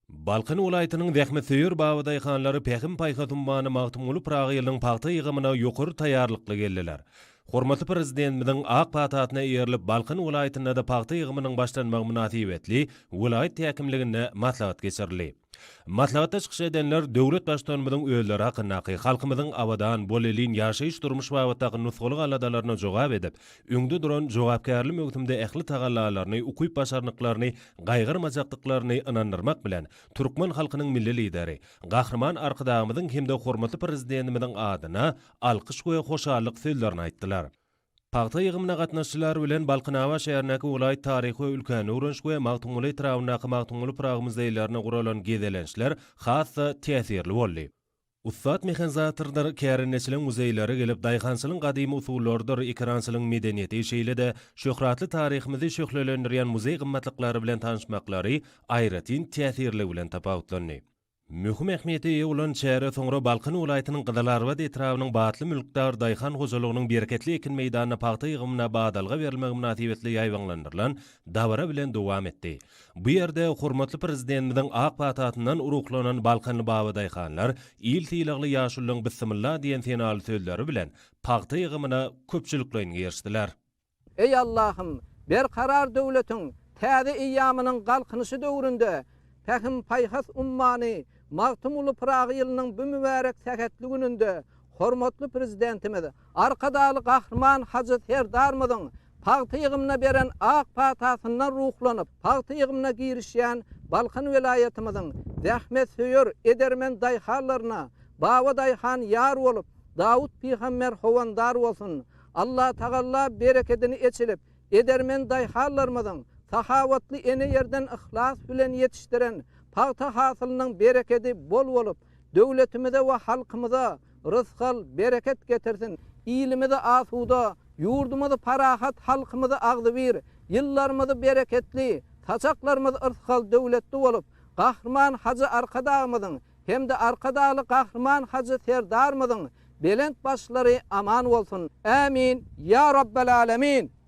Balkan welaýatynyň zähmetsöýer babadaýhanlary Pähim-paýhas ummany Magtymguly Pyragy ýylynyň pagta ýygymyna ýokary taýýarlykly geldiler. Hormatly Prezidentimiziň ak patasyna eýerilip, Balkan welaýatynda-da pagta ýygymynyň başlanmagy mynasybetli welaýat häkimliginde maslahat geçirildi. Maslahatda çykyş edenler döwlet Baştutanymyzyň özleri hakyndaky, halkymyzyň abadan, bolelin ýaşaýyş-durmuş babatdaky nusgalyk aladalaryna jogap edip, öňde duran jogapkärli möwsümde ähli tagallalaryny, ukyp-başarnyklaryny gaýgyrmajakdyklaryny ynandyrmak bilen, türkmen halkynyň Milli Lideri, Gahryman Arkadagymyzyň hem-de hormatly Prezidentimiziň adyna alkyş we hoşallyk sözlerini aýtdylar. Pagta ýygymyna gatnaşyjylar bilen Balkanabat şäherindäki welaýat taryhy we ülkäni öwreniş we Magtymguly etrabyndaky Magtymguly Pyragy muzeýlerine guralan gezelençler has-da täsirli boldy. Ussat mehanizatorlar kärendeçiligiň muzeýlere gelip, daýhançylygyň gadymy usullarydyr ekerançylygyň medeniýeti, şeýle-de şöhratly taryhymyzy şöhlelendirýän muzeý gymmatlyklary bilen tanyşmaklary aýratyn täsirligi bilen tapawutlandy. Möhüm ähmiýete eýe bolan çäre soňra Balkan welaýatynyň Gyzylarbat etrabynyň Batly mülkdar daýhan hojalygynyň bereketli ekin meýdanynda pagta ýygymyna badalga berilmegi mynasybetli ýaýbaňlandyrylan dabara bilen dowam etdi. Bu ýerde hormatly Prezidentimiziň ak patasyndan ruhlanan balkanly babadaýhanlar Il sylagly ýaşulyň Bissimilla diýen senaly sözleri bilen pagta ýygymyna köpçülikleýin girişdiler. Eý Allahym, Berkarar döwletiň täze eýýamynyň Galkynyşy döwründe Pähim-paýhas ummany Magtymguly Pyragy ýylynyň bu mübärek sähetli gününde hormatly Prezidentimiz Arkadagly Gahryman Hajy Serdarymyzyň Pagta ýygymyna beren ak patasyndan ruhlanyp, pagta ýygymyna girişýän Balkan welaýatymyzyň zähmetsöýer, edermen daýhanlaryna Baba daýhan ýar bolup, Dawut pygamber howandar bolsun! Allatagalla berekedini eçilip, edermen daýhanlarymyzyň, sahawatly ene ýerden yhlas bilen ýetişdiren pagta hasylynyň berekedi bol bolup, döwletimize we halkymyza rysgal, bereket getirsin, ilimizi asuda, ýurdumyzy parahat, halkymyzy agzybir, ýyllarymyzy bereketli, saçaklarymyz yrsgal, döwletli bolup, Gahryman Hajy Arkadagymyzyň hem-de Arkadagly Gahryman Hajy Serdarymyzyň belent başlary aman bolsun! Ämin! Ýa Rabbel Älemin!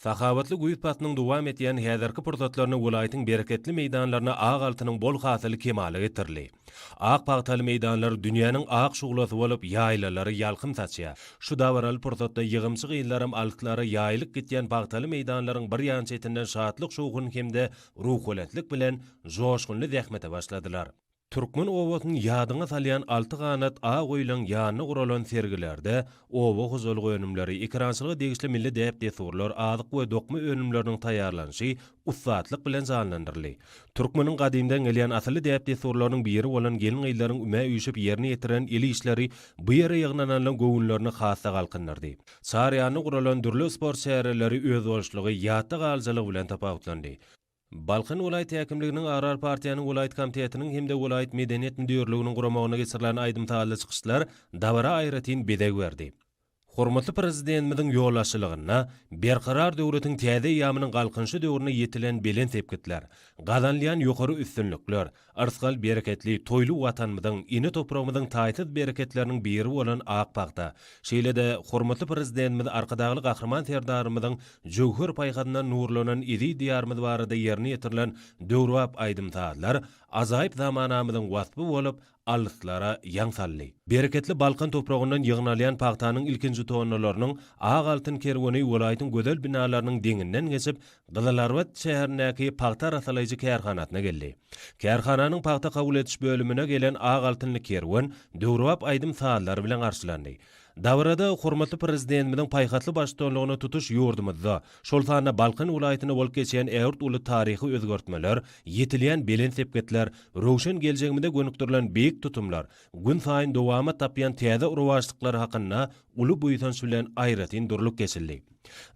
Sahawatly güýz paslynyň dowam edýän häzirki pursatlarynda welaýatyň bereketli meýdanlarynda ak altynyň bol hasyly kemala getirildi. Ak pagtaly meýdanlar dünýäniň ak şuglasy bolup, ýaýlalara ýalkym saçýar. Şu dabaraly pursatda ýygymçy gyzlaram altlary ýaýylyp gitýän pagtaly meýdanlaryň bir ýan çetinden şatlyk-şowhun hem-de ruhubelentlik bilen joşgunly zähmete başladylar. Türkmen obasyny ýadyňa salýan alty ganat ak öýleň ýanynda guralan sergilerde oba hojalyk önümleri, ekerançylyga degişli milli däp-dessurlar, azyk we dokma önümleriniň taýýarlanyşy ussatlyk bilen janlandyryldy. Türkmeniň gadymdan gelýän asylly däp-dessurlarynyň biri bolan gelin-gyzlaryň ümä üýşüp ýerine ýetiren el işleri bu ýere ýygnananlaryň göwünlerini has-da galkyndyrdy. Çar ýanynda guralan dürli sport çäreleri özboluşlygy, ýatda galyjylygy bilen tapawutlandy. Balkan welaýat häkimliginiň Agrar partiýanyň welaýat komitetiniň hem-de welaýat medeniýet müdirliginiň guramagynda geçirilen aýdym-sazly çykyşlar dabara aýratyn bezeg berdi. Hormatly Prezidentimiziň ýolbaşçylygynda Berkarar döwletiň täze eýýamynyň Galkynyşy döwründe ýetilen belent sepgitler, gazanylýan ýokary üstünlikler, Yrsgal bereketli, toýly Watanymyzyň, ene topragymyzyň taýsyz bereketleriniň biri bolan ak pagta, şeýle-de hormatly Prezidentimiz Arkadagly Gahryman Serdarymyzyň jöwher paýhasyndan nurlanan eziz Diýarymyz barada ýerine ýetirilen döwrebap aýdym-sazlar ajaýyp zamanamyzyň waspy bolup, alyslara ýaň saldy. Bereketli Balkan topragyndan ýygnalýan pagtanyň ilkinji tonnalarynyň ak altyn kerweni welaýatyň gözel binalarynyň deňinden geçip, Gyzylarbat şäherindäki pagta arassalaýjy kärhanasyna geldi. Kärhananyň pagta kabul ediş bölümine gelen ak altynly kerwen döwrebap aýdym-sazlar bilen garşylandy. Dabarada hormatly Prezidentimiziň paýhasly baştutanlygynda tutuş ýurdumyzda, şol sanda Balkan welaýatynda bolup geçen ägirt uly taryhy özgertmeler, ýetilýän belent sepgitler, röwşen geljegimize gönükdirilen beýik tutumlar, günsaýyn dowamat tapýan täze rowaçlyklar hakynda uly buýsanç bilen aýratyn durlup geçildi.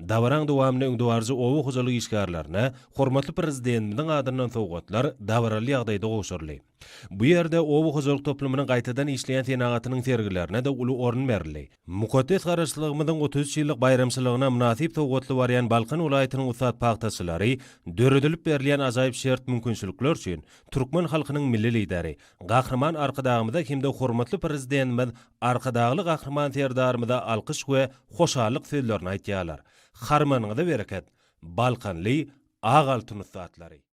Dabaraň dowamynda öňdebaryjy oba hojalyk işgärlerine hormatly Prezidentimiziň adyndan sowgatlar dabaraly ýagdaýda gowşuryldy. Bu ýerde oba hojalyk toplumynyň gaýtadan işleýän senagatynyň sergilerine-de uly orun berildi. Mukaddes Garaşsyzlygymyzyň otuz üç ýyllyk baýramçylygyna mynasyp sowgatly barýan Balkan welaýatynyň ussat pagtaçylary döredilip berilýän ajaýyp şert-mümkinçilikler üçin türkmen halkynyň Milli Lideri, Gahryman Arkadagymyza hem-de hormatly Prezidentimiz Arkadagly Gahryman Serdarymyza alkyş we hoşallyk sözlerini aýtýarlar. Harmanyňyza bereket, balkanly ak altyn ussatlary!